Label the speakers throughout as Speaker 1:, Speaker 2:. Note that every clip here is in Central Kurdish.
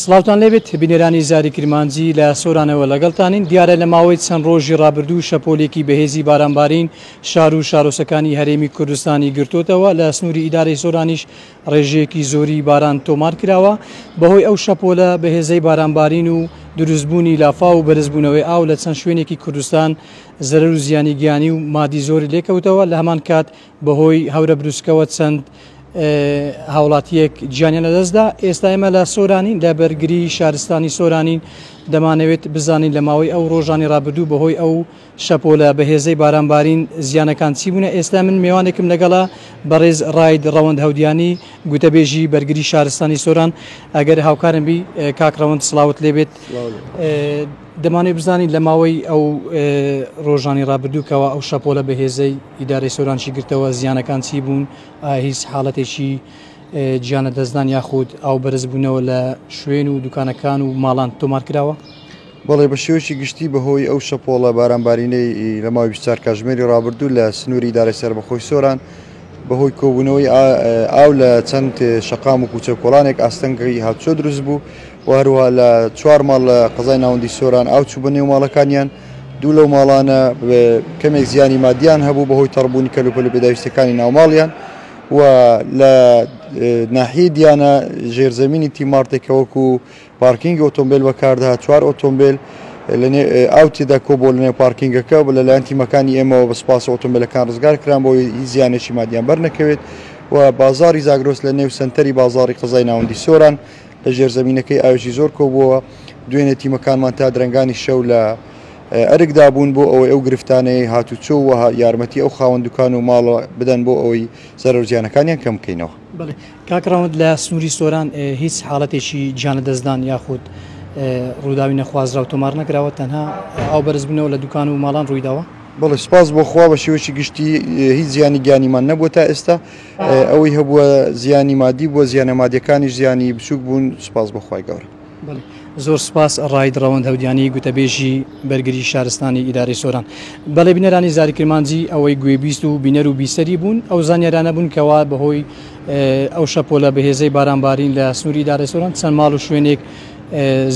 Speaker 1: سڵاوتان لێبێت بینەرانی زاری کرمانجی لە سۆرانەوە لەگەڵتانین دیارە لە ماوەی چەند ڕۆژی ڕابردوو شەپۆلێکی بەهێزی بارانبارین شار و شارۆچەکانی هەرێمی کوردستانی گرتوتەوە لە سنووری ئیدارەی سۆرانیش ڕێژەیەکی زۆری باران تۆمار کراوە بەهۆی ئەو شەپۆلە بەهێزەی بارانبارین و دروستبوونی لافا و بەرزبوونەوەی ئاو لە چەند شوێنێکی کوردستان زەرەر و زیانی گیانی و مادی زۆری لێکەوتەوە لە هەمان کات بەهۆی هەورە بروسکەوە چەند هاوڵاتیەک گیانیان لەدەستدا ئێستا ئێمە لە سۆرانین لە بەرگری شارستانی سۆرانین دەمانەوێت بزانین لە ماوەی ئەو ڕۆژانی ڕابردوو بەهۆی ئەو شەپۆلە بەهێزەی بارانبارین زیانەکان چی بوونە ئێستا من میوانێکم لەگەڵا بەڕێز ڕاید ڕەوەند هەودیانی گوتەبێژی بەرگری شارستانی سۆران ئەگەر هاوکارم بی کاک ڕەوەند سڵاوت لێبێت دەمانەوێت بزانین لە ماوەی ئەو ڕۆژانی ڕابردووکەوە ئەو شەپۆلە بەهێزەی ئیدارەی سۆرانشی گرتەوە زیانەکان چی بوون هیچ حاڵەتێکی گیانە دەستدان یاخود ئەو بەرزبوونەوە لە شوێن و دوکانەکان و ماڵان تۆمار کراوە بەڵێ بە
Speaker 2: شێوەی گشتی بەهۆی ئەو شەپۆڵە بارانبارینەی لە ماوەی 24 کاژمێری ڕابردوو لە سنووری دارە سەربەخۆی سۆران بەهۆی کۆبوونەوەی ئاو لە چەند شەقام و کوچە کۆڵانێک ئاستەنگەی هاتوچۆ دروست بوو و هەروە لە چوار ماڵ لە قەزای ناوەندی سۆران ئاو چوو بە نێو ماڵەکانیان دوو لەو ماڵانە کەمێک زیانی مادیان هەبوو بەهۆی تەڕبوونی کەلوپەل و پێداویستەکانی ناوماڵیان و لە ناحیە دیانە ژێرزەمینی تیمارتێکەوەکو پارکینگی ئۆتۆمبێل بەکاردەهات، چوار ئۆتۆمبێل ئاو تێدا کۆبووە لەنێو پارکینگەکە و لەلایەن تیمەکانی ئێمەوە بە سوپاسەوە ئۆتۆمبێلەکان ڕزگارکران بۆ ئەوەی هیچ زیانێکی مادییان بەرنەکەوێت و بازاڕی زاگرۆس لەنێو سەنتەری بازاڕی قەزای ناوەندی سۆران لە ژێرزەمینەکەی ئاوێکی زۆر کۆبووەوە، دوێنێ تیمەکانمان تا درەنگانی شەو لە ئەرکدا بوون بۆ ئەوەی ئەو گرفتانەی هاتوچۆ و یارمەتی ئەو خاوەن دوکان و ماڵە بدەن بۆ ئەوەی زەرەر و زیانەکانیان کەمبکەینەوە. بەڵێ کاک
Speaker 1: ڕەوەند لە سنووری سۆران هیچ حاڵەتێکی گیانلەدەستدان یاخود ڕووداوی نەخوازراو تۆمار نەکراوە تەنها ئەو بەرزبوونەوە لە دوکان و ماڵان ڕوویداوە بەڵێ سپاس بۆ
Speaker 2: خوا بە شێوەیەکی گشتی هیچ زیانی گیانیمان نەبووە تا ئێستا ئەوەی هەبووە زیانی مادی بووە زیانە مادیەکانیش زیانی بچووک بوون سپاس بۆ خوای گەورە. بەڵێ زۆر
Speaker 1: سوپاس ڕاید ڕەوەند هەودیانی گوتەبێژی بەرگری شارستانی ئیدارەی سۆران بەڵێ بینەرانی زاری کرمانجی ئەوەی گوێبیست و بینەر و بیسەری بوون ئەو زانیارانە بوون کەوا بەهۆی ئەو شەپۆلە بەهێزەی بارانبارین لە سنووری ئیدارەی سۆران چەند ماڵ و شوێنێک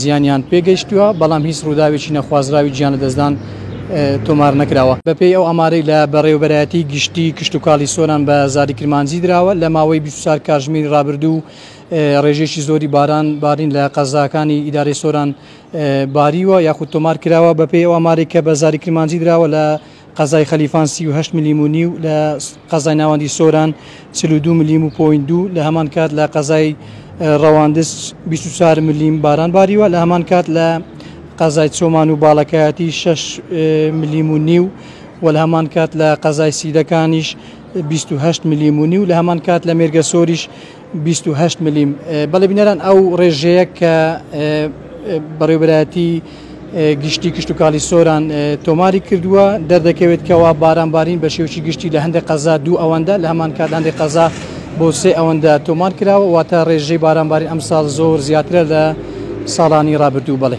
Speaker 1: زیانیان پێگەیشتووە بەڵام هیچ ڕووداوێکی نەخوازراوی گیانە دەستدان تۆمار نەکراوە بەپێی ئەو ئەمارەی لە بەڕێوبەرایەتی گشتی کشتتوکاڵی سۆران بە زاری کرمانجی دراوە لە ماوەی 24 کاژمێری ڕابردوو ڕێژەیەکی زۆری باران بارین لە قەزاکانی ئیدارەی سۆران باریوە یاخود تۆمار کراوە بەپێی ئەو ئاماری کە بە زاری کرمانجی دراوە لە قەزای خەلیفان 38 ملیم و نیو لە قەزای ناوەندی سۆران 42 ملیم و پۆین دوو لە هەمان کات لە قەزای ڕەواندز 24 ملیم باران باریوە لە هەمان کات لە قەزای چۆمان و باڵەکایەتی 6 ملیم و نیو و لە هەمان کات لە قەزای سیدەکانیش 28 ملیم و نیو لە هەمان کات لە مێرگەسۆریش بیست و هەشت ملیم، بەڵێ بینەران ئەو ڕێژەیە کە بەڕێوبەرایەتی گشتی کشتوکاڵی سۆران تۆماری کردووە دەردەکەوێت کەوا بارانبارین بە شێوکی گشتی لە هەندێک قەزا دوو ئەوەندە لە هەمان کات هەندێک قەزا بۆ سێ ئەوەندە تۆمار کراوە واتە ڕێژەی بارانبارین ئەمساڵ زۆر زیاترە لە ساڵانی ڕابردوو بەڵێ.